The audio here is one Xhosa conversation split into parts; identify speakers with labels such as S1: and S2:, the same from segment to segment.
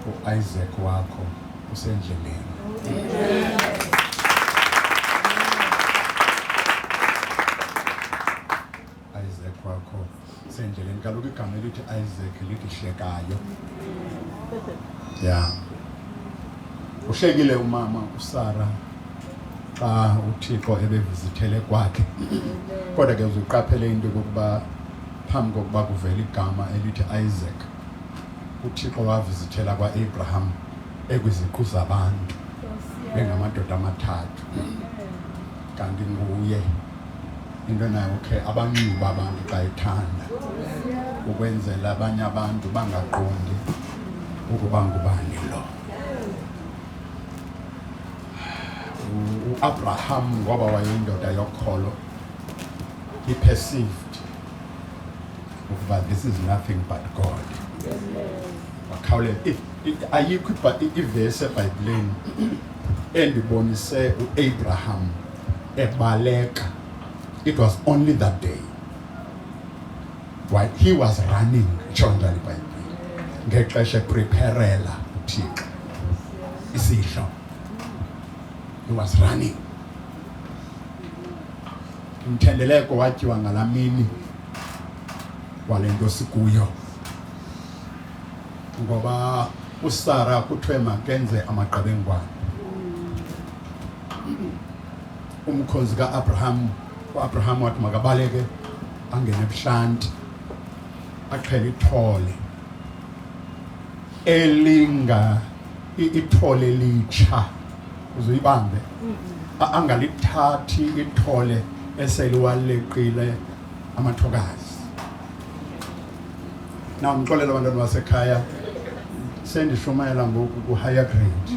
S1: uIsaac wakho usendleleni. Isaac wakho usendleleni. Kaloku igama elithi Isaac lithi hlekayo. Ya. Uhlekile umama uSara xa uThixo ebevizithele kwakhe. Kodwa ke uzuqaphele into yokuba phambi kokuba kuvele igama elithi Isaac uthixo wavizithela kwa-abraham ekwiziqu zabantu bengamadoda amathathu kanti nguye into nayo khe abanxiba abantu xa ethanda ukwenzela abanye abantu bangaqondi ukuba ngubani lo uabraham ngoba wayeyindoda yokholo he perceived ukuba this is nothing but God wakhawuleza ayikho ivesi ebhayibhileni endibonise uAbraham ebaleka it was only that day while he was running itsho njalo ibhayibhile ngexesha epreparela uthixo isidlo he was running Umthendeleko watyiwa ngalaa mini wale nto sikuyo, ngoba uSara kuthiwe makenze amaqebengwana. Umkhozi kaAbraham, uAbraham wathi makabaleke angene ebuhlanti, axhele ithole elinga ithole elitsha. uzuyibambe angalithathi ithole eseliwaleqile amathokazi na ndixolela abantwana basekhaya sendishumayela ngoku ku-higher grade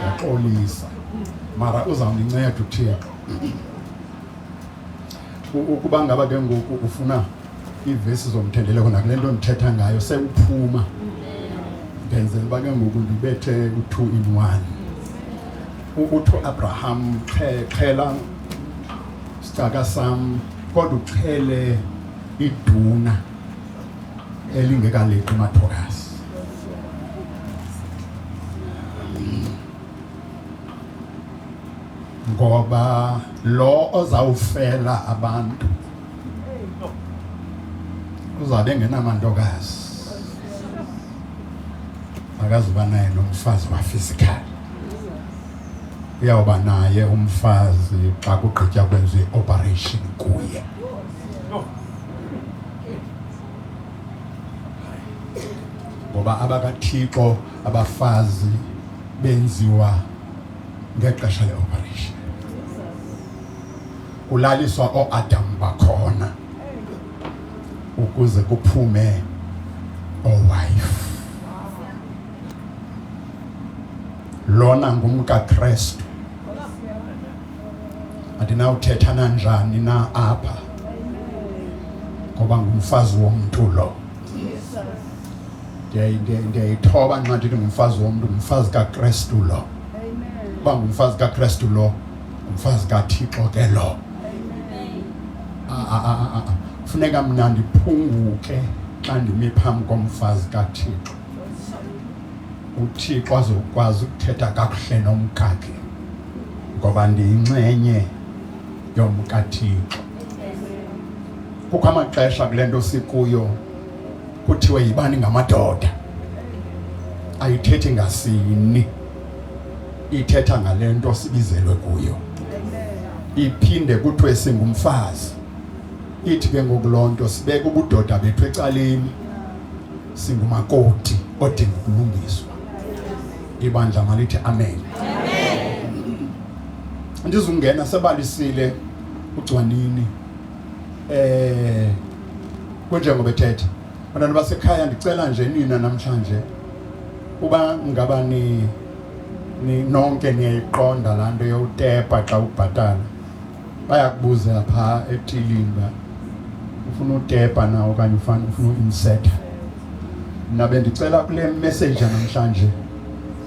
S1: yaxolisa mara uzawundinceda uthixo ukuba ngaba ke ngoku ufuna iivesi zomthendeleko nakule nto ndithetha ngayo sewuphuma ndenzela uba ke ngoku ndibethe u-two in one uthi uabraham xhela sicaka sam kodwa uxhele iduna elingekaleqi umathokasi ngoba lo ozawufela abantu uzawube engenamantokazi akazuba naye nomfazi wafizikhali uyawuba naye umfazi xa kugqitya kwenza i-operation kuye ngoba abakathixo abafazi benziwa ngexesha leoperation kulaliswa ooadam bakhona ukuze kuphume oowife lona ngumkakrestu andinawuthetha nanjani na apha ngoba ngumfazi womntu lo Jesus. ndiyayithoba nxa ndithi ngumfazi womntu ngumfazi kakrestu lo uba ngumfazi kakrestu lo ngumfazi kathixo ke lo funeka mna ndiphunguke xa ndimi phambi komfazi kathixo uthixo azokwazi ukuthetha kakuhle nomkakhe ngoba ndiyinxenye yomkathixo kukho amaxesha kule nto sikuyo kuthiwe yibani ngamadoda ayithethi ngasini ithetha ngale nto sibizelwe kuyo iphinde kuthiwe singumfazi ithi ke ngoku loo nto sibeke ubudoda bethu ecaleni singumakoti odinga ukulungiswa ibandla malithi amen ndizungena sebalisile ugcwanini eh kunjengoba ethetha bantwana basekhaya ndicela nje nina namhlanje uba ngaba ni nonke niyayiqonda laa nto yowutepa xa ubhatala bayakubuza phaa etilini uba ufuna utepa na okanye ufana ufuna uinsetha mna bendicela kule messeja namhlanje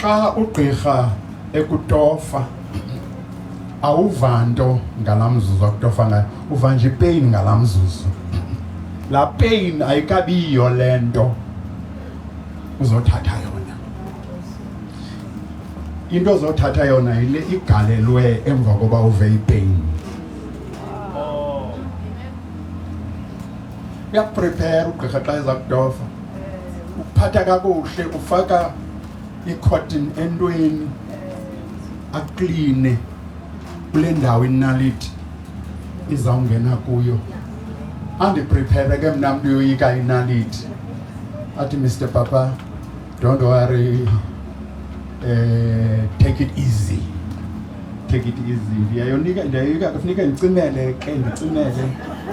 S1: Xa ugqirha ekutofa awuva nto ngala mzuzu akutofa ngayo uva nje ipeyini ngala mzuzu laa peyini ayikabiyiyo le nto uzothatha yona into ozothatha yona yile igalelwe emva koba uve ipeyini uyakuprepare ugqirha xa eza kutofa ukuphatha kakuhle ufaka i-cotton entweni akline kule ndawo inaliti izawungena kuyo andiprepare ke mna mntu yoyika inaliti athi mr papa don't worry uh, take it easy take it easy ndiyayonika ndiyayoyika kufuneka ndicimele ke ndicimele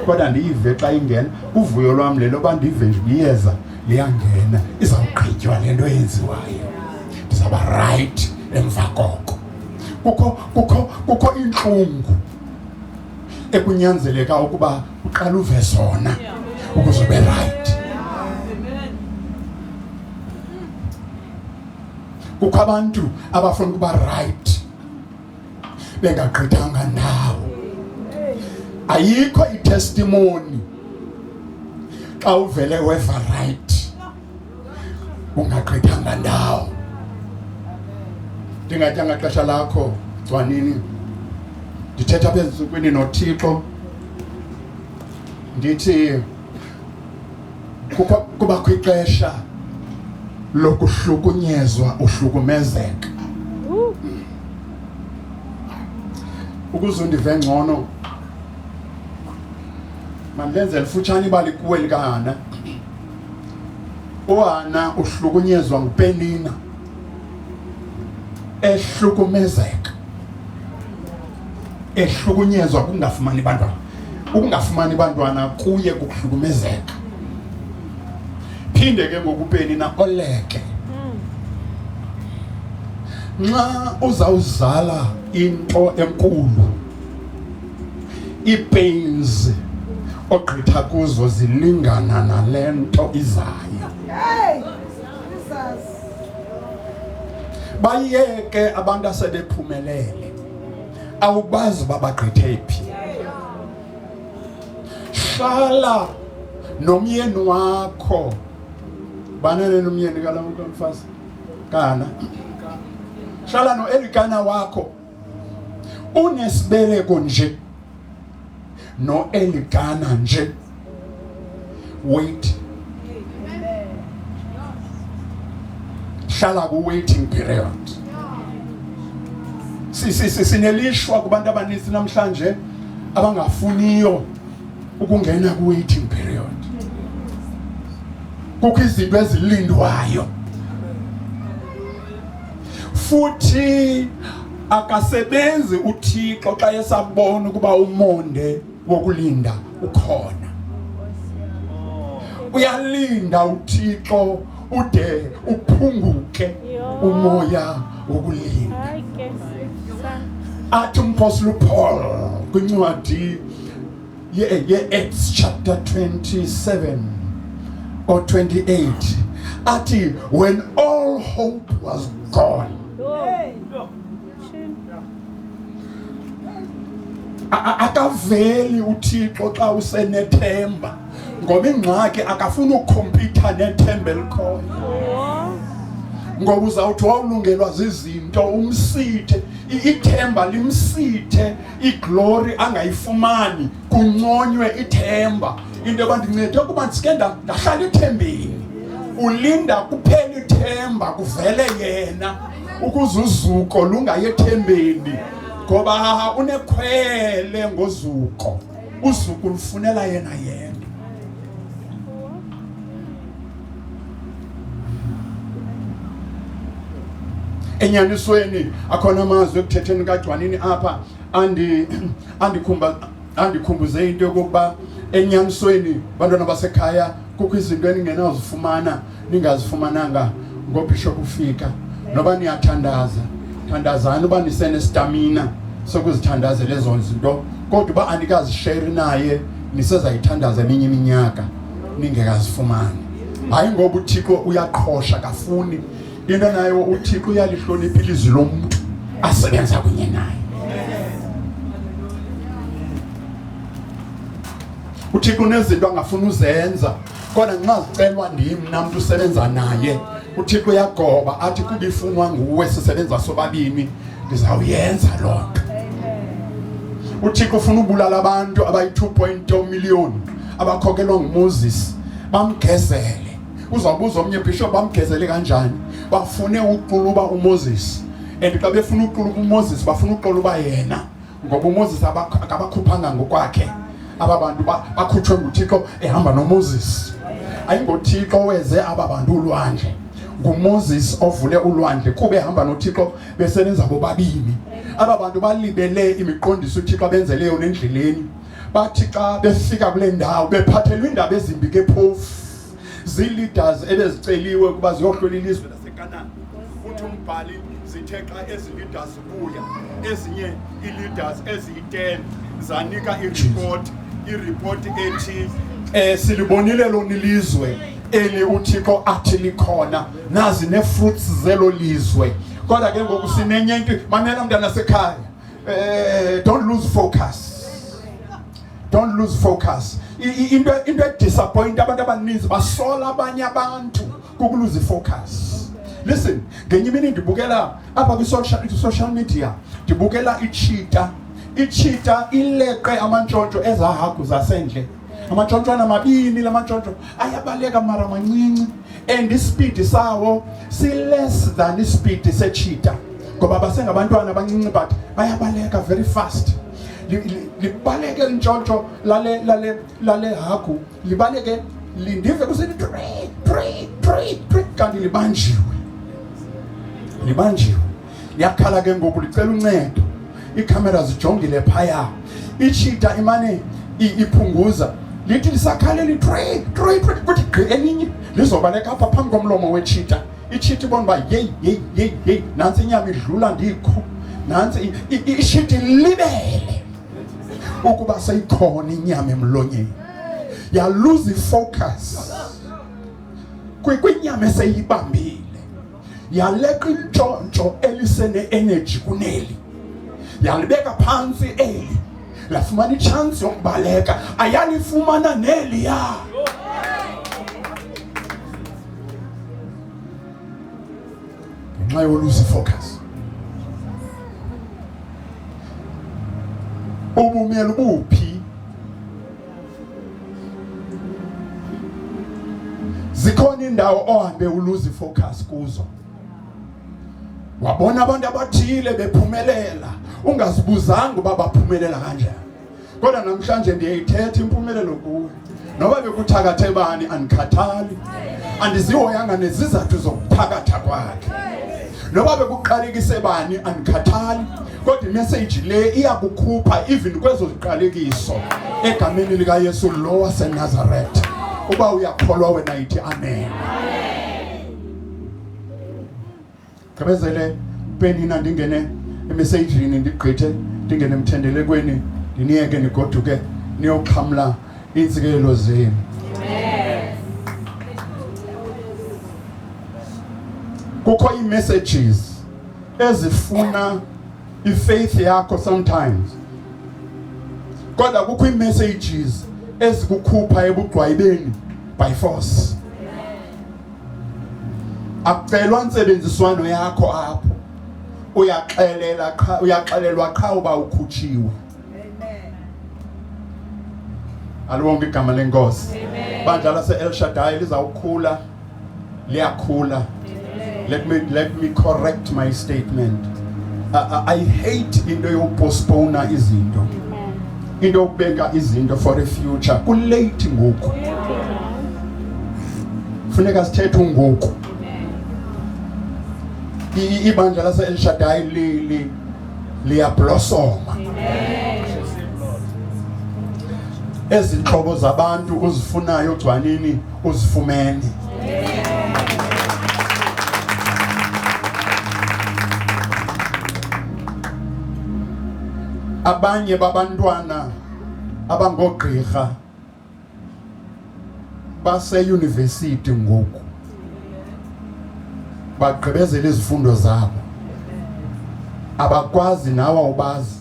S1: kodwa ndiyive xa ingena uvuyo lwam le loba ndive nje liyeza liyangena izawugqitywa le nto yenziwayo ndizawuba rayithi emva koko kukho kukho kukho iintlungu ekunyanzeleka ukuba uqala uve zona ukuze ube rayithi kukho abantu abafuna ukuba right bengagqithanga ndawo ayikho itestimoni xa uvele weva right ungagqithanga ndawo ndingatyanga xesha lakho gcwanini ndithetha apha ezintsukwini nothixo ndithi kukho kuba kwixesha lokuhlukunyezwa uhlukumezeka ukuze undive ngcono mandenze lifutshane ibali kuwe likahana uhana uhlukunyezwa ngupenina ehlukumezeka ehlukunyezwa kungafumani bantwana ukungafumani bantwana kuye kukuhlukumezeka phinde ke ngokupeni na oleke nxa uzawuzala into enkulu iipains ogqitha kuzo zilingana nale nto izayo bayeke abantu asebephumelele awubazi uba bagqithe phi. Hlala nomyeni wakho. Banene nomyeni kala mntu omfazi. Kana. Hlala noelikana wakho. Unesibeleko nje. noelikana nje wait hlala ku-waiting period sinelishwa kubantu abaninzi namhlanje abangafuniyo ukungena ku-waiting period kukho izinto ezilindwayo futhi akasebenzi uThixo xa esabona ukuba umonde wokulinda ukhona uyalinda uThixo ude uphunguke umoya wokulinda athi umpostoli uPaul kwincwadi ye-Acts chapter 27 or 28 athi when all hope was gone akaveli uthixo xa usenethemba ngoba ingxaki akafuni ukhompyutha nethemba elikhoyo ngoba uzawuthi wawulungelwa zizinto umsithe ithemba limsithe iglori angayifumani kunconywe ithemba into yoba ndincede ukuba ndisike ndahlala ithembeni ulinda kuphela ithemba kuvele yena ukuze uzuko lungayethembeni ngoba unekhwele ngozuko uzuko lufunela yena yena enyanisweni akhona amazwi ekuthetheni kagcwanini apha andi andikhumba andikhumbuze into yokuba enyanisweni bantwana basekhaya kukho izinto eningenazifumana ningazifumananga ngobishop ufika noba niyathandaza thandazani uba nisenestamina sokuzithandazela ezo zinto kodwa uba anikazisheri naye nisezayithandaza eminye iminyaka ningekazifumani hayi ngoba uthixo uyaqhosha kafuni into nayo uthixo uyalihlonipha ilizwi lomntu asebenza kunye naye uthixo unezinto angafuni uzenza kodwa nxa zicelwa ndim namntu usebenza naye uthixo uyagoba athi kuba ifunwa nguwe sisebenza sobabini ndizawuyenza loo nto uthixo ufuna ubulala abantu abayi-2 point 2 million abakhokelwa ngumoses bamgezele uzabuza omnye bishop bamgezele kanjani bafune uquluba umoses and xa befuna uquluba umoses bafuna uquluba yena ngoba umoses akabakhuphanga ngokwakhe aba bantu bakhutshwe nguthixo ehamba nomoses ayingothixo weze aba bantu ulwandle ngumoses ovule ulwandle kuba ehamba nothixo besebenza bobabini aba bantu balibele imiqondiso uthixo abenzeleyo nendleleni bathi xa befika kule ndawo bephathelwa iindaba ezimbi ke phofu zii-leaders ebeziceliwe ukuba ziyohlola ilizwe lasekanana uthi umbhali zithe xa ezi leaders zibuya ezinye ii-leaders eziyi-ten zanika iripoti iripoti ethi um silibonile lona ilizwe eli uthixo athi likhona nazi nee-fruits zelo lizwe kodwa ke ngoku sinenye into mamela mntanasekhaya Eh, don't lose focus. Don't lose focus. Into into disappoint abantu abaninzi basola abanye abantu kukuluze focus. Listen, ngenye imini ndibukela apha kwi social social media, ndibukela ichita. Ichita ileqe amantshontsho ezahagu zasendle. amatshotshwana mabini la matshotshwa ayabaleka mara mancinci and isipidi sawo si-less than isipidi setshita ngoba basengabantwana abancinci but bayabaleka very fast libaleke lintshontsho lale lale lale hagu libaleke lindive kusithi three three three three kanti libanjiwe libanjiwe yakhala ke ngoku licela uncedo iikhamera zijongile phaya itshita imane iphunguza lithi lisakhalela itrey trey trey kuthi gqi elinye lizobaleka apha phambi komlomo wetshita itshita ibona uba yeyi yeyi yeyi yeyi nantsi inyama idlula ndikho nantsi ishita ilibele ukuba seyikhona inyama emlonyeni yaluza ifocus kwinyama eseyibambile yaleqa intshontsho elisene-energy kuneli yalibeka phantsi eli lafumana itshansi yokubaleka ayalifumana neliya ngenxa yoluzi focus ubumyela ubuphi zikhona indawo ohambe uluzi focus kuzo wabona abantu abathile bephumelela ungazibuzanga uba baphumelela kanjani kodwa namhlanje ndiyayithetha impumelelo kuwe noba bekuthakathe bani andikhathali andizihoyanga nezizathu zokuthakatha kwakhe noba bekuqalekise bani andikhathali kodwa imeseji le iyakukhupha even kwezo ziqalekiso egameni likayesu lo wasenazaretha uba uyakholwa wena yithi amen gqibezele penina ndingene emesejini ndigqithe ndingene emthendelekweni ndiniyeke nigoduke niyoxhamla iintsikelelo zenu kukho ii-messages ezifuna ifaith yakho sometimes kodwa kukho iimessages ezikukhupha ebugqwayibeni by force akucelwa ntsebenziswano yakho apho uyaxelela qha uyaxelelwa qha uba ukhutshiwe aliwonke igama lenkosi bandla lase-el shadai lizawukhula liyakhula let me, let me correct my statement I, uh, uh, I hate into yokupostpona izinto into yokubeka izinto for a future kulate ngoku funeka sithethe ungoku ibandla lase-elshadayi liyablosoma ezi ntlobo zabantu uzifunayo gcwanini uzifumene. Abanye babantwana abangoogqirha baseyunivesithi ngoku bagqibezela izifundo zabo abakwazi nawe ubazi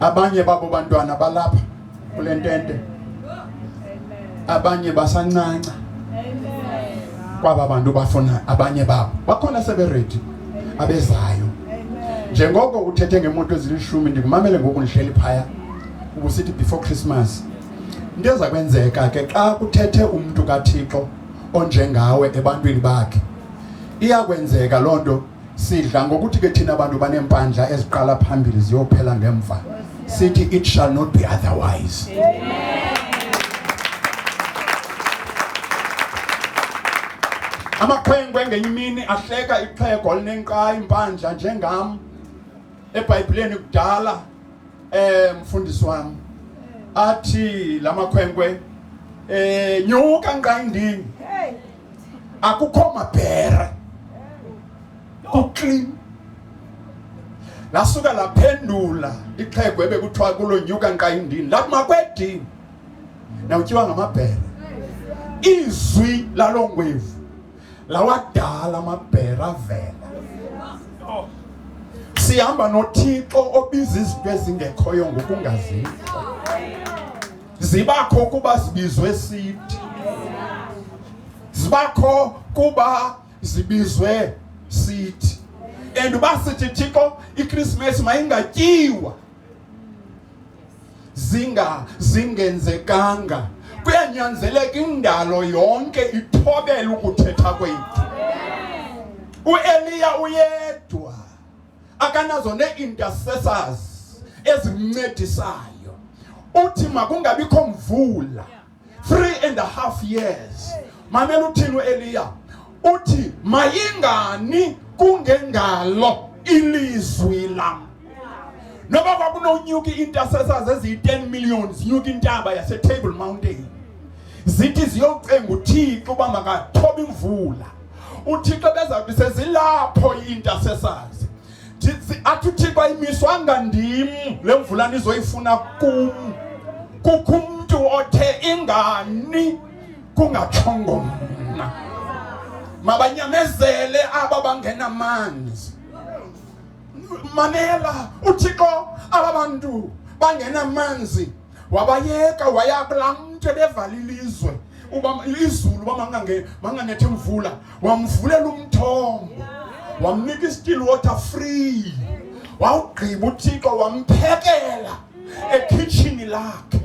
S1: abanye babo bantwana balapha kule ntente abanye basancanca kwaba bantu bafuna abanye babo bakhona seberedi abezayo njengoko uthethe ngemoto ezilishumi ndikumamele ngoku ndihleli phaya ubusithi before christmas into eza kwenzeka ke xa kuthethe umntu kathixo onjengawe ebantwini bakhe iyakwenzeka loo nto sidla ngokuthi ke thina abantu banempandla eziqala phambili ziyophela ngemva sithi it shall not be otherwise amakhwenkwe ngenye imini ahleka ixhego olinenkqayi impandla njengam ebhayibhileni kudala um mfundisi wam athi la makhwenkwe um nyuka nqayindini akukho mabhere kuclean lasuka laphendula ixhego ebekuthiwa kulo nyuka nqayindini lathi makwedini nawutyiwa ngamabhere izwi lalo ngwevu lawadala amabhere avela sihamba nothixo obiza izinto ezingekhoyo ngokungazikho zibakho kuba zibizwe siti zibakho kuba zibizwe siti and uba sithi thixo ikrismesi mayingatyiwa zinga zingenzekanga kuyanyanzeleka indalo yonke ithobele ukuthetha kwethu ueliya uyedwa akanazo nee-intercessors ezimncedisayo uthi makungabikho mvula three and a half years mamela uthini ueliya uthi mayingani kungengalo ilizwi lam noba kwakunonyuka i-intercessors eziyi-10 million zinyuka intaba yasetable mountain zithi ziyocenga uthixo uba makathoba imvula uthixo bezawuthi sezilapho i-intercessors athi uthixo ayimiswanga ndim le mvula nizoyifuna kum kukho umntu othe ingani kungatshongo mna mabanyamezele aba bangenamanzi mamela uthixo aba bantu bangenamanzi wabayeka waya kulaa mntu ebevala ilizwe uba izulu uba manganethe mvula wamvulela umthombo wamnika i-still water free wawugqiba uthixo wamphekela ekhitshini lakhe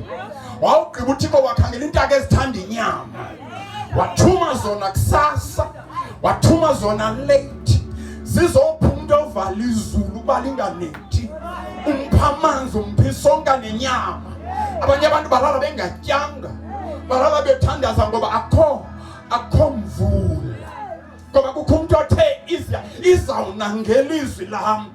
S1: wawugqiba uthixo wakhangela iintaka ezithanda inyama wathuma zona kusasa wathuma zona late zizophuma umntu ovala izulu ukuba linganethi umpha amanzi umphi sonka nenyama abanye abantu balala bengatyanga balala bethandaza ngoba akho akho mvula ngoba kukho umntu othe izawuna ngelizwi lam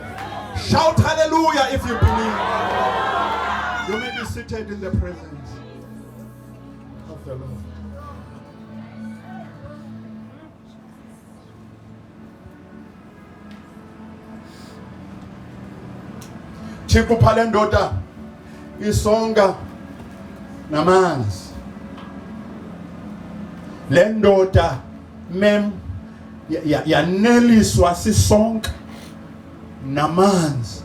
S1: Shout hallelujah if you believe. You may be seated in the presence of the Lord. Chikupha le ndoda isonga namanzi. Le ndoda mem yaneliswa sisonke namanzi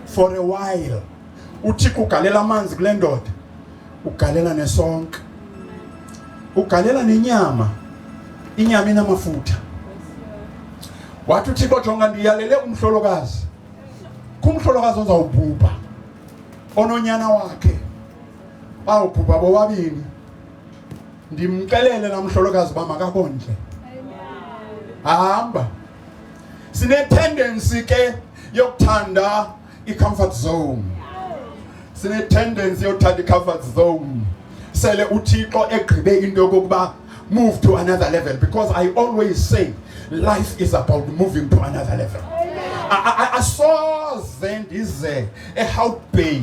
S1: for a while uthi kugalela amanzi kule ndoda ugalela nesonke ugalela nenyama inyama inamafutha wathi uthixo jonga ndiyalele umhlolokazi kumhlolokazi ozawubhubha ononyana wakhe bawubhubha bobabini ndimcelele namhlolokazi uba makakondle hamba sinetendency ke yokuthanda i-comfort zone sinetendency yokuthanda i-comfort zone sele uthixo egqibe into yokokuba move to another level because i always say life is about moving to another level asoze ndize ehout bay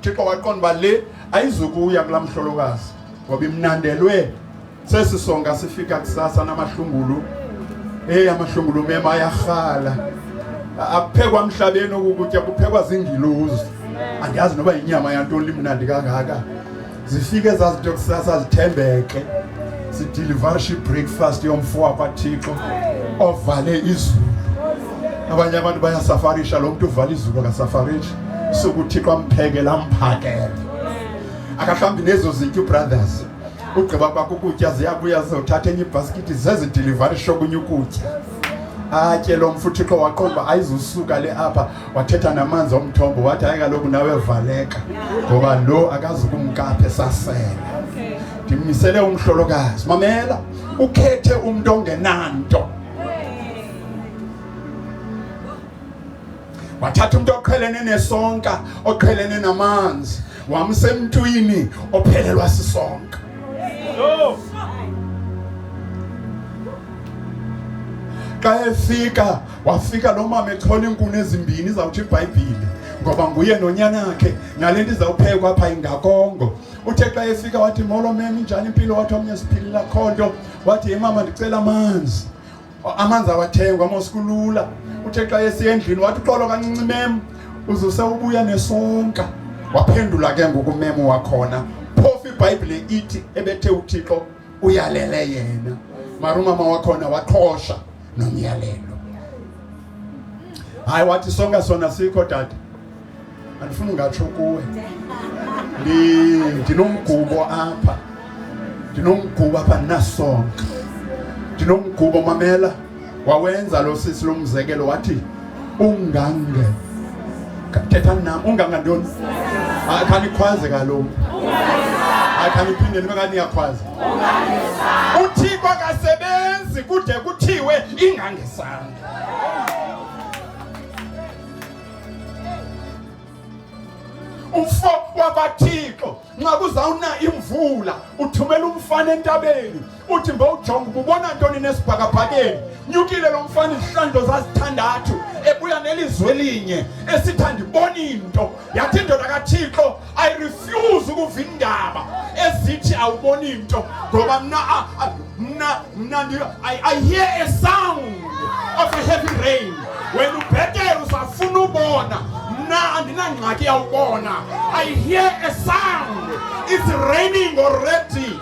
S1: Thixo waqonda uba le ayizukuya kulaa mhlolokazi ngoba imnandelwe sesi songa sifika kusasa namahlungulu eyi amahlungulu mema ayarhala akuphekwa mhlabeni okukutya kuphekwa zingiluzi andiyazi noba yinyama yantoni limnandi kangaka zifike zazinto kusasa zithembeke sidilivarisha ibreakfast yomfo wakwathixo ovale izulu abanye abantu bayasafarisha lo mntu uvala izulu akasafarishi sokuthixo amphekela amphakele akahlawumbi nezo zitya ubrothers ugqiba kwakho ukutya ziyabuya zizothatha enye ibhaskithi zezidilivarisha okunye ukutya atye lo mfuthixo waqomba ayizusuka le apha wathetha namanzi omthombo wathi hayi kaloku nawe valeka ngoba lo akazukumkapha esasele ndimisele umhlolokazi mamela ukhethe umntu ongenanto wathatha umntu oqhelene nesonka oqhelene namanzi wamsemntwini ophelelwa sisonka xa efika Wafika lo mama ethola iinkuni ezimbini izawuthi ibhayibhile ngoba nguye nonyanakhe nale nto izawuphekwa apha ingakongo uthe xa efika wathi molo mem injani impilo wathi omnye siphilila kho nto wathi ye mama ndicela amanzi amanzi awathengwa mosikulula uthe xa esiya endlini wathi uxolo kancinci mem uzuse ubuya nesonka waphendula ke ngoku mem wakhona phofu ibhayibhile ithi ebethe uthixo uyalele yena marumama wakhona waqhosha nomyalelo. Hayi wathi sonke sona sikho tata. Andifuni ngatsho kuwe. Ndinomgubo apha. Ndinomgubo apha ndinasonka. Ndinomgubo mamela wawenza lo sisi lomzekelo wathi ungange thetha nam ungange ntoni akhanikhwaze kaloku akhaniphinde nibe kaniyakhwaza uthixo akasebenzi kude kuthiwe ingangesandla umfo wabathixo nxa kuzawuna imvula uthumela umfana entabeni uthi mbawujonga uba ubona ntoni nesibhakabhakeni nyukile lo mfana izihlandlo zazithandathu ebuya nelizwe elinye esithi ndibona into yathi indoda kathixo i refuse ukuva indaba ezithi awuboni into ngoba mna mna mna i hear a sound of a heavy rain wena ubhetele usafuna ubona mna andinangxaki yawubona i hear a sound it's raining already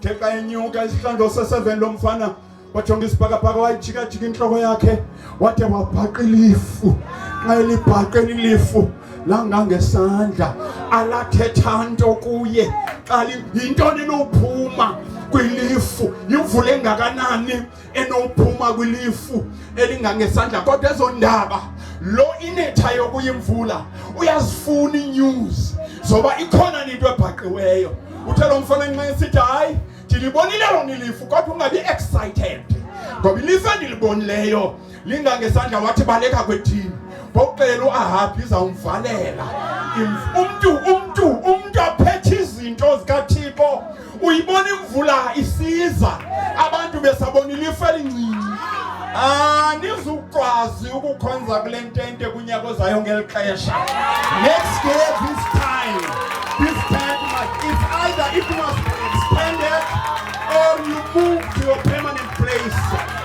S1: Theka inyuka isihlandlo se-7 lo mfana wajonga isibhakabhaka wayijikajika intloko yakhe wade wabhaqa ilifu xa elibhaqeni ilifu langangesandla alathetha nto kuye xa yintoni enophuma kwilifu yimvula engakanani enophuma kwilifu elingangesandla kodwa ezo ndaba lo inetha yokuya imvula uyazifuna inews zoba ikhona into ebhaqiweyo uthe lo mfana nxa esithi hayi ndilibonile lona ilifu kodwa ungabi excited ngoba ilifu endilibonileyo linga ngesandla wathi baleka kwethini ngokuxelela uahabhi izawumvalela umntu umntu umntu aphethe izinto zikathixo uyibona imvula isiza abantu besabonile ife elincinci anizukwazi ah, ukukhonza kule ntente kunyaka ozayo ngeli xesha next year this time this time it's either it must be expanded or you move to your permanent place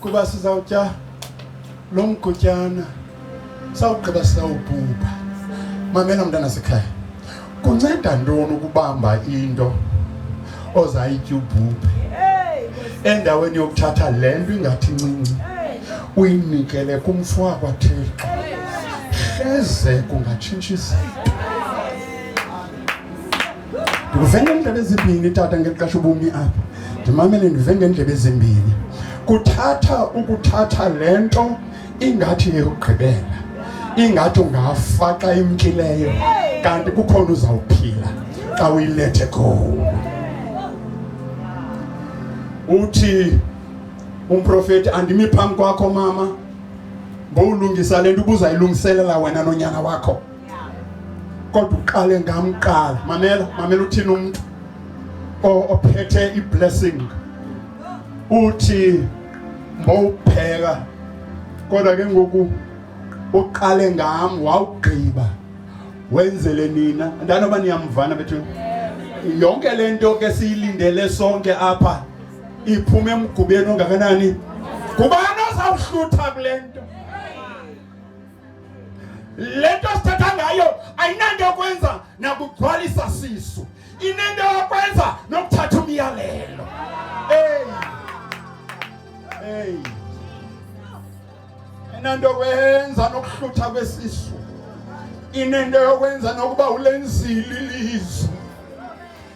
S1: kuba sizawutya lo mgutyana sawugqiba sawubhubha mamela mntana sekhaya kunceda ntoni ukubamba into ozayitya ubhubhe endaweni yokuthatha le nto ingathi ncinci uyinikele kumfo wakwathixo hleze kungatshintsha izinto ndive ngeendlebe ezimbini tata ngeli xesha ubumi apha ndimamele ndive ngeendlebe ezimbini kuthatha ukuthatha le nto ingathi yeyokugqibela ingathi ungafa xa imkileyo kanti kukhona uzawuphila xa uyilethe khona uthi umprofeti andimi phambi kwakho mama bowulungisa le nto ubuzayilungiselela wena nonyana wakho kodwa uqale ngamqala mamela mamela uthini umntu ophethe iblessing uthi mbowupheka kodwa ke ngoku uqale ngam wawugqiba wenzele nina ndanoba niyamvana bethu yonke le nto ke siyilindele sonke apha iphume emgubeni ongakanani ngubani ozawuhlutha kule nto leto sithathangayo ayinanto yokwenza nakuthwalisa sisu inento yokwenza nokuthatha umyalelo ey ey inento yokwenza nokuhlutha kwesisu inento yokwenza nokuba ulenzile ilizwe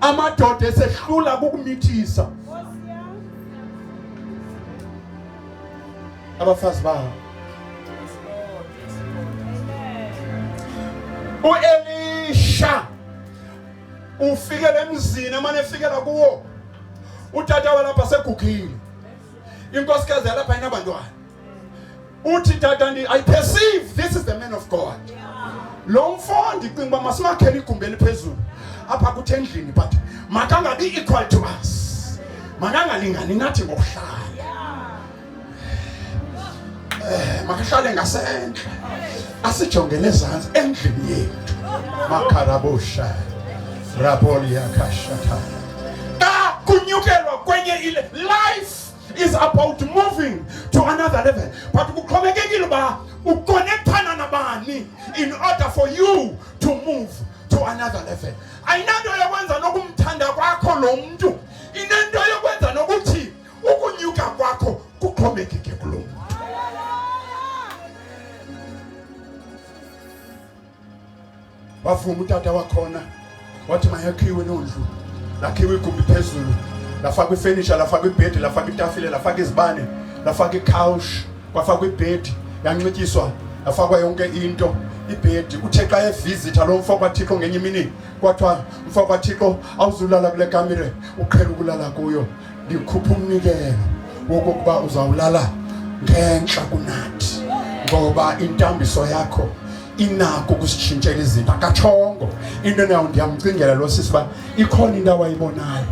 S1: amadoda esehlula kukumithisa abafazi bawo uElisha ufikele emzini amane efikela kuwo utata walapha segugile inkosikazi yalapha inabantwana uthi tata ndi i perceive this is the man of god lo mfo ndicinga uba masimakhele igumbi eliphezulu apha kuthi endlini but makangabi equal to us makangalingani nathi ngokuhlala eh, makahlale ngasendle asijongele ezantsi endlini yethu makharabosha rabolia kashatha xa kunyukelwa kwenye ile life is about moving to another level but kuxhomekekile uba ukonektana nabani in order for you to move to another level ayinanto yokwenza nokumthanda kwakho lo mntu inento yokwenza nokuthi ukunyuka kwakho kuxhomekeke kulo mntu wavuma utata wakhona wathi mayakhiwe loo ndlu lakhiwe igumbi phezulu lafakwa ifenisha lafakwa ibhedi lafakwa itafile lafakwa izibane lafakwa ikhawushi kwafakwa ibhedi yanxityiswa yafakwa yonke into ibhedi uthe xa evizitha lo mfo kwathixo ngenye imini kwathiwa mfo kwathixo awuzulala kule kamire uqhela ukulala kuyo ndikhupha umnikelo wokokuba uzawulala ngentla kunathi ngoba intambiso yakho inako ukusitshintshela izinto akatshongo into nayo ndiyamcingela lo sisi uba ikhona into awayibonayo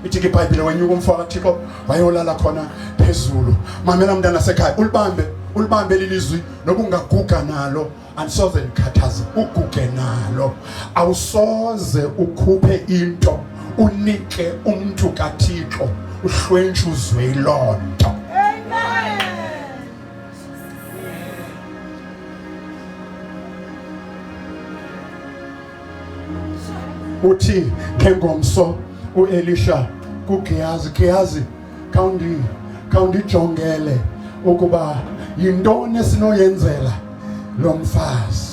S1: ithi ke ibhayibhile wenyuka umfo kathixo wayolala khona phezulu mamela mntana sekhaya ulibambe ulibambe lilizwi noba ungaguga nalo andisoze ndikhathaze uguge nalo awusoze ukhuphe into unike umntu kathixo uhlwentshe uzwe loo nto uthi ngengomso uelisha kugehazi gehazi khawundijongele ukuba yintoni esinoyenzela lo mfazi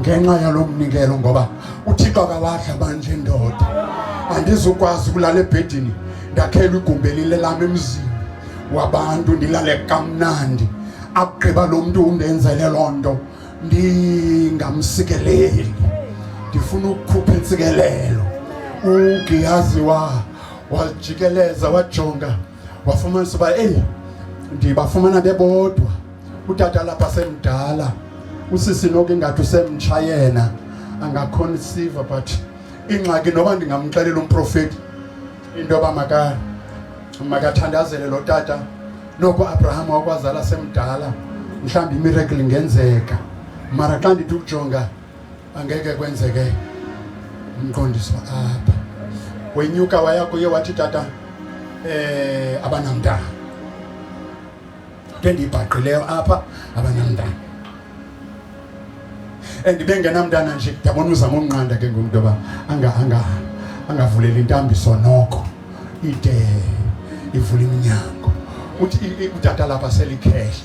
S1: ngenxa yalo mnikelo ngoba uthixo akawadla manje ndoda andizukwazi ukulala ebhedini ndakhelwa igumbi elilelam emzini wabantu ndilale kamnandi akugqiba lo mntu undenzele loo nto ndingamsikeleli ndifuna ukukhupha intsikelelo ugiyazi wa wajikeleza wajonga wafumanisa uba eyi ndibafumana bebodwa utata lapha semdala usisi noku ingathi usemtsha yena angakhona isiva but ingxaki noba ndingamxelela umprofeti into yoba maka makathandazele lo tata noko abraham wakwazala semdala mhlawumbi imiracle ingenzeka mara xa ndithi ukujonga angeke kwenzeke umqondiso apha wenyuka waya kuye wathi tata eh abanamntana into endiyibhaqileyo apha abanamntana and bengenamntana nje ndiyabona uzama umnqanda ke ngumntu yoba angavuleli intambiso noko ide ivula iminyango uthi utata lapha selikhehla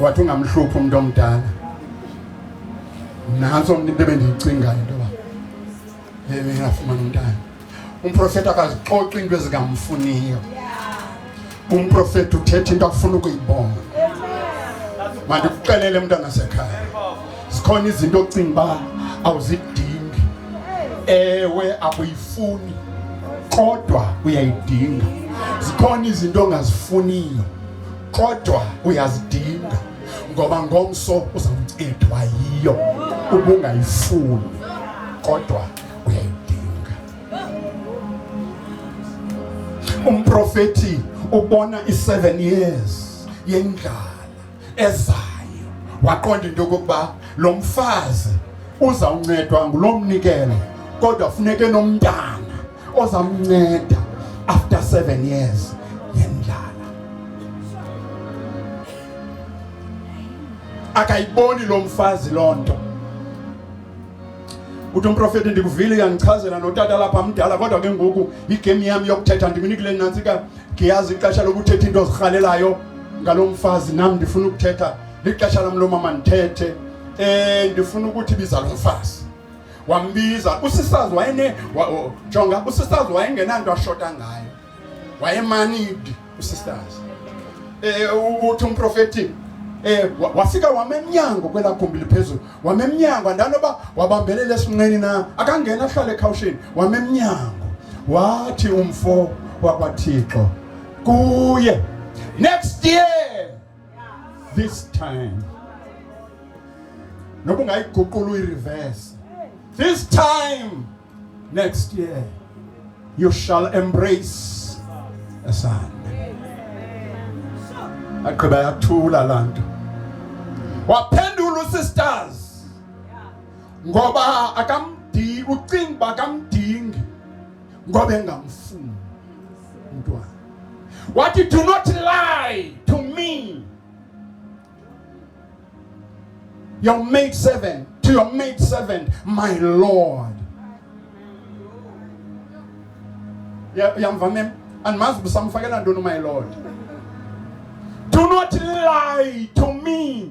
S1: wathi ungamhluphi umntu omdala nantso mntu into ebendiyicingayo into yoba engafumana umntana umprofeti akazixoxi into ezingamfuniyo umprofeti uthetha into afuna ukuyibona mandikuxelele mntanasekhaya zikhona izinto ocinga uba awuzidingi ewe akuyifuni kodwa uyayidinga zikhona izinto ongazifuniyo kodwa uyazidinga ngoba ngomso uzawuncedwa yiyo ubungayifuni kodwa uyayidinga umprofeti ubona i-seven years yendlala ezayo waqonda into yokokuba lo mfazi uzawuncedwa ngulo mnikelo kodwa funeke nomntana ozamnceda after seven years yendlala akayiboni lo mfazi loo nto uthi umprofeti ndikuvile uyandichazela notata lapha mdala kodwa ke ngoku yigame yam yokuthetha ndiminikile nantsika ndiyazi ixesha lokuthetha into ozirhalelayo ngalo mfazi nam ndifuna ukuthetha lixesha lam lo mama ndithethe um ndifuna ukuthi biza lo mfazi wambiza usisazi wayene jonga usisazi wayengenanto ashota ngayo wayemanidi usisazi um uthi umprofeti eh wafika wamemnyango kwela gumbi liphezulu wamemnyango andanoba wabambelela esinqeni na akangena ahlale ekhawushini wamemnyango wathi umfo wakwaThixo kuye next year this time noba ungayiguqula uyireverse this time next year you shall embrace a son agqiba yathula laa nto waphendula usisters ngoba akamdingi ucinga uba akamdingi ngoba engamfuni umntwana. Wathi do not lie to me your maid servant to your maid servant my lord yamva mem andimazi ubusamfakela ntoni my lord do not lie to me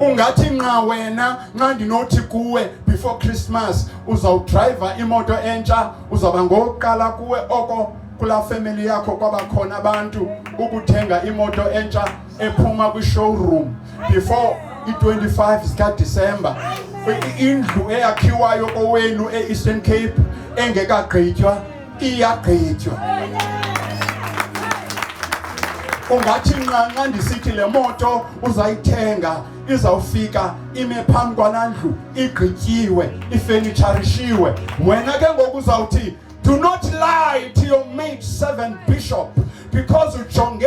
S1: ungathi nqa wena nxa ndinothi kuwe before christmas uzawudrayiva imoto entsha uzawuba ngokuqala kuwe oko kulaa family yakho kwaba khona abantu ukuthenga imoto entsha ephuma kwishowroom before i-25 zikadisemba indlu eyakhiwayo kowenu e-eastern cape engekagqitywa iyaqitywa. Ungathi nqanqa ndisithi le moto uzayithenga izawufika ime phambi kwanandlu igqityiwe ifenitsharishiwe wena ke ngoku uzawuthi do not lie to your mate servant bishop because ujonge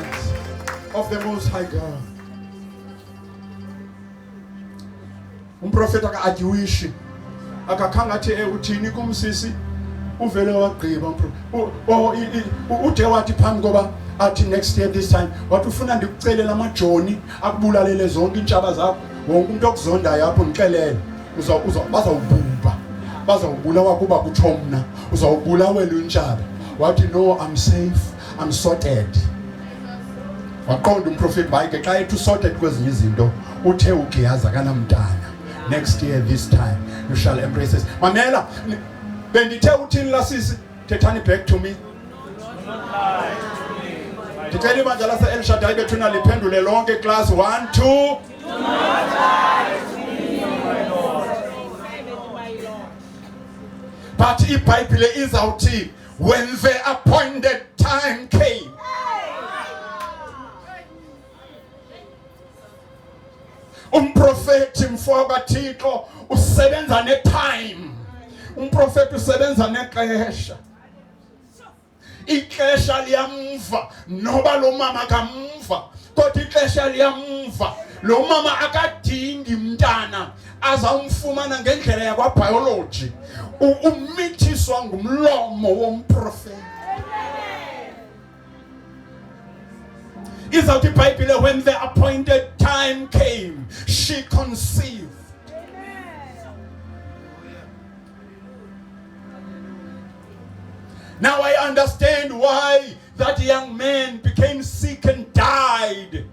S1: of the most high God. Umprofeti akajiwishi akakhanga athi eh uthini kumsisi uvele wagqiba ude wathi phambi koba athi next year this time wathi ufuna ndikucelela amajoni akubulalele zonke iintshaba zakho wonke umntu okuzondayo apho ndixelele bazawubhubha bazawubulawa kuba kutsho mna uzawubulawela untshaba wathi no i'm safe I'm sorted waqonda umprofeti bayike xa ethi usorted kwezinye izinto uthe ugiyazi akanamntana next year this time you shall embrace this mamela bendithe uthini lasisi thethani back to me ndicela ibandla lase-elshadayi bethuna liphendule lonke class 1 2 but ibhayibhile izawuthini When the appointed time came. Umprofeti mfoka kaThixo usebenza ne time. Umprofeti usebenza nexesha. Ixesha liyamva noba lo mama kamva kodwa ixesha liyamva. Lo mama akadingi mntana azawumfumana ngendlela yakwabhayoloji umithiswa ngumlomo womprofeti izawuthi ibhayibhile when the appointed time came she conceived Now I understand why that young man became sick and died.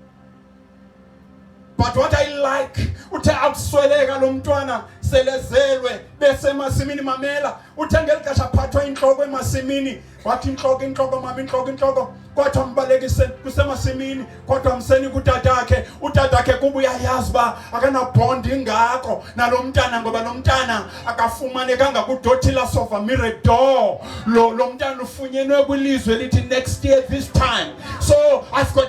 S1: But what I like uthe akusweleka lo mntwana selezelwe bese emasimini mamela uthe ngeli xesha aphathwa intloko emasimini wathi intloko intloko mama intloko intloko kwathiwa mbalekise kusemasimini kodwa mseni kutatakhe utatakhe kuba uyayazi uba akanabhondi ingako nalo mntana ngoba lo mntana akafumanekanga kudothila sofa miredor lo lo mntana ufunyenwe kwilizwe elithi next year this time so i've got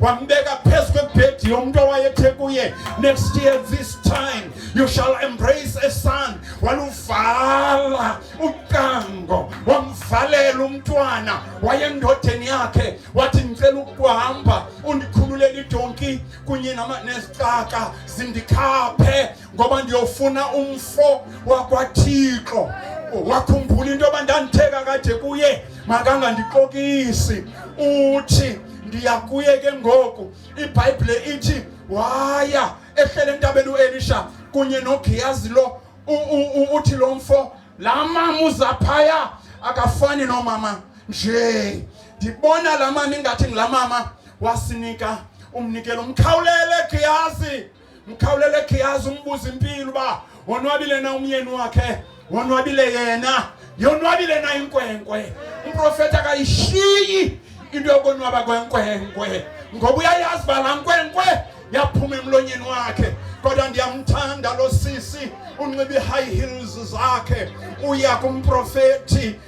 S1: wambeka phezu kwebhedi yomntu owayethe kuye next year this time you shall embrace a son waluvala ucango wamvalela umntwana wayendodeni yakhe wathi ndicela ukuhamba undikhululele idonki kunye nezicaka zindikhaphe ngoba ndiyofuna umfo wakwathixo wakhumbula into yoba ndanditheka kade kuye makangandixokisi uthi ndiya kuye ke ngoku ibhayibhile ithi waya ehlele entabeni uelisha kunye nogiyazi lo uthi lo mfo laa mama uzaphaya akafani nomama nje ndibona laa mama ingathi ngulaa mama wasinika umnikelo umkhawulele giyazi mkhawulele khiyazi umbuza impilo uba wonwabile na umyeni wakhe wonwabile yena yonwabile na inkwenkwe umprofeti akayishiyi into yokonwaba kwenkwenkwe ngoba uyayazi uba laa nkwenkwe yaphuma emlonyeni wakhe kodwa ndiyamthanda lo sisi unxiba i-high heels zakhe uya kumprofethi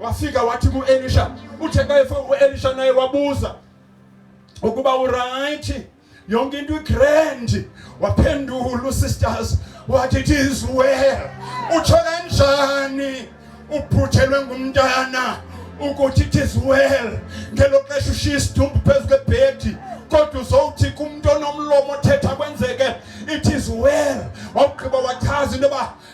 S1: Wafika wathi kuElisha, utheka efe uElisha naye wabuza ukuba urayithi yonke into igrand. Waphendula sisters what it is well. Utsho kanjani uphuthelwe ngumntana ukuthi it is well ngelo xesha ushiya isidumbu phezu kwebhedi kodwa uzowuthi kumntu onomlomo othetha kwenzeke it is well wawugqiba wachaza into yoba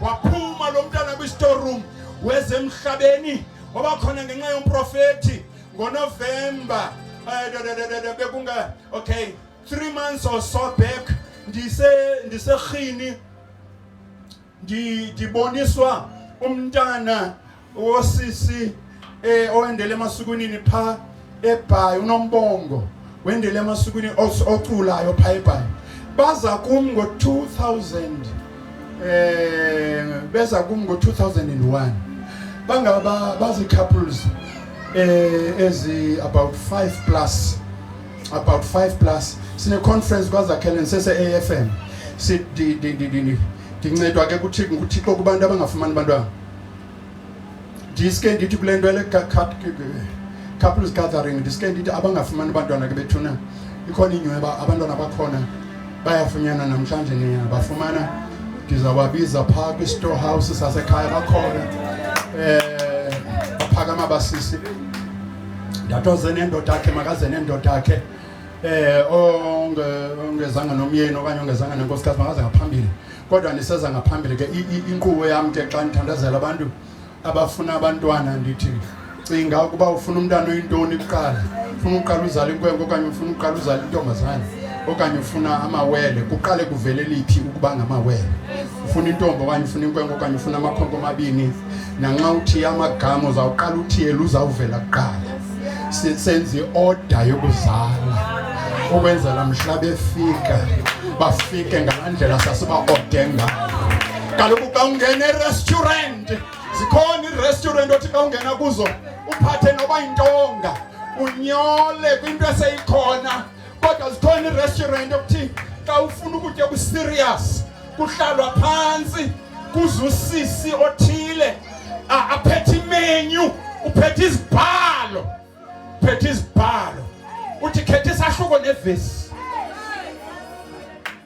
S1: waphuma lo mntana kwi-store room wezemhlabeni wabakhona ngenxa yomprofethi ngonovemba eh, bekunga okay three months or so back ndise ndiserhini ndiboniswa umntana Osisi eh owendele emasukwini pha ebhayi unombongo wendele emasukwini oculayo pha ebhayi baza kum ngo-2000 eh beza kum ngo-2001 bangaba bazi-couples eh ezi about 5 plus about 5 plus sine-conference kwazakhelen sese-a f m ndincedwa ke kuthixo kubantu abangafumani bantwana ndiske ndithi kule nto le couples gathering ndiske ndithi abangafumani abantwana ke bethuna ikhona inyweba abantwana bakhona bayafunyana namhlanje nina bafumana ndizawabiza phaa kwi-store house sasekhaya bakhona um baphakama basisi ndathi oze nendoda yakhe makaze nendoda yakhe um ongezanga nomyeni okanye ongezanga nenkosikazi makaze ngaphambili kodwa ndiseza ngaphambili ke inkqubo yam ke xa ndithandazela abantu abafuna abantwana ndithi cinga ukuba ufuna umntana oyintoni kuqala ufuna uqala uzala inkwenkwe okanye ufuna uqala uzala intombazane okanye ufuna amawele kuqale kuvele liphi ukuba ngamawele ufuna intombi okanye ufuna inkwenkwe okanye ufuna amakhonko amabini nanxa uthiye amagama uzawuqala uthiyela uzawuvela kuqala senze ioda yokuzala ukwenzela mhla befika bafike ngalaa ndlela sasibaode ngayo kaloku xa ungena erestaurant zikhona irestaurant othi xa ungena kuzo uphathe noba yintonga unyole kwinto eseyikhona kodwa zikhona iirestaurant okuthi xa ufuna ukutya okuserious kuhlalwa phantsi kuzusisi othile aphethe imenyu uphethe izibhalo uphethe izibhalo uthi khetha isahluko nevesi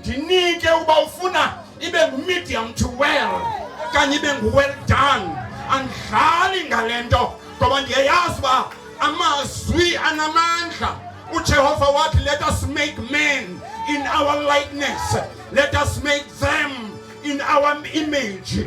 S1: ndinike uba ufuna ibe ngumedium to well okanye ibe ngu-well done andidlali ngale nto ngoba ndiyayazi uba amazwi anamandla ujehova wathi let us make men in our likeness let us make them in our image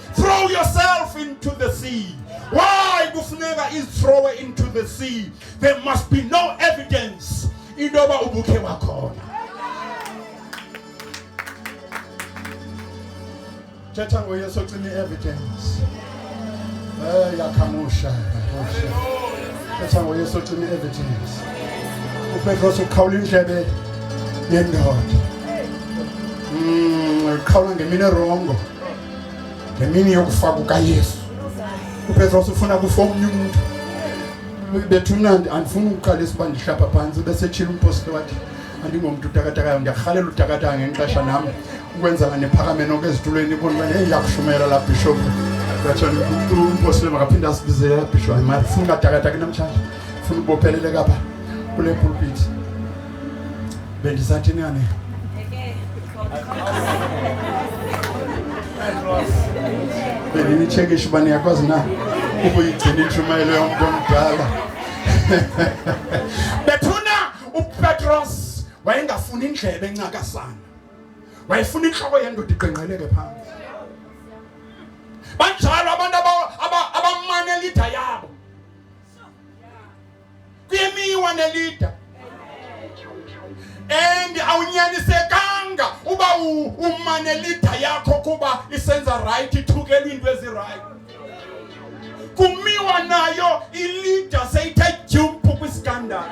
S1: Throw yourself into the sea. Why kufuneka is throw into the sea? There must be no evidence intoba ubukhe wakhona. Thetha ngoyesu ocima i-evidence. Eh yakhamusha. Thetha ngoyesu ocima i-evidence. UPetros ukhawula indlebe yendoda. Mm, ukhawula ngemini erongo. ngemini yokufa kukayesu upetros ufuna kufa omnye umntu bethuna andifuni ukuqalisa uba ndihlapha phantsi besetshile umpostile wathi andingomntu utakatakayo ndiyarhalela utakataka ngenxesha nam ukwenzela nephakame noko ezitulweni ibonba neyakushumayela la bishop ngatsho umpostile makaphinde asibizele la bishop hayi mari funa ungatakataki namtshanje funa ubopheleleka pha kule pulpiti Bendi sa tini ane. Bendi ni cheke shubani ya kwa zina. Ubu yitini chuma ilo ya mdo mdala. Betuna upetros wayenga funi ndlebe ngaka sana. Wayefuni nhloko yendo diqenqeleke phansi. Banjalo abantu abamanelida yabo. kwimiwa nelida and awunyanisekanga uba umane lida yakho kuba isenza right ithukelwe into ezirayithi kumiwa nayo ilida seyithe dyumpu kwisikandalo